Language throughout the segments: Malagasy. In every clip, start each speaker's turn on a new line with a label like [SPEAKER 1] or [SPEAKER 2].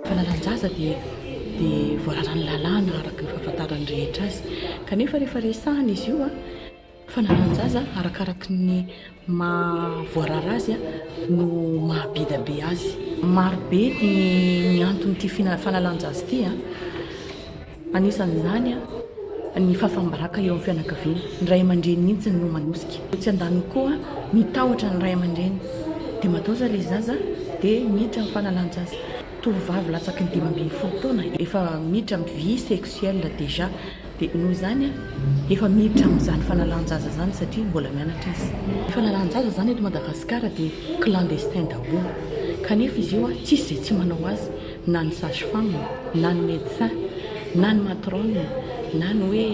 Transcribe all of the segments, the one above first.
[SPEAKER 1] Fanalan-jaza dia dia voararan'ny lalàna araka ny fahafantaran'ny rehetra azy. Kanefa rehefa resahina izy io, Fananan-jaza arakaraky ny maha voarara azy no maha beda be azy. Maro be ny anton'ity fanalan-jaza ity, anisan'izany ny fahafaham-baraka eo amin'ny fianakaviana, ny ray aman-dreny mihitsy no manosika. Etsy andaniny koa ny tahotra ny ray aman-dreny dia mataoza ilay zaza dia miditra amin'ny fanalan-jaza. Tovovavy latsaky ny dimy ambin'ny folo taona efa miditra amin'ny vie sexuelle déjà. Dia noho izany aho efa miditra amin'izany fanalan-jaza izany satria mbola mianatra izy. Ny fanalan-jaza izany eto Madagasikara dia clandestin daholo kanefa izy io tsisy izay tsy manao azy na ny sage femme na ny medecin na ny matrone na ny hoe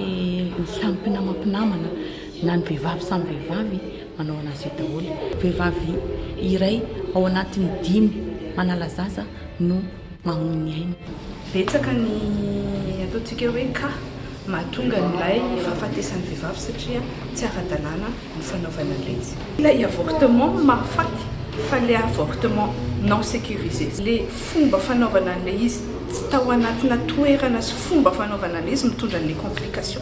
[SPEAKER 1] ny samy mpinama mpinamana na ny vehivavy samy vehivavy manao anazy io daholo. Vehivavy iray ao anatin'ny dimy manala zaza no. mamoy ny ainy. Betsaka ny
[SPEAKER 2] ataontsika hoe cas mahatonga an'ilay fahafatesan'ny vehivavy satria tsy ara-dalàna ny fanaovana an'iretsy. Ilay avortement mahafaty fa ilay avortement non sécurisé, ilay fomba fanaovana an'ilay izy tsy tao anatina toerana sy fomba fanaovana an'ilay izy mitondra an'ilay complication.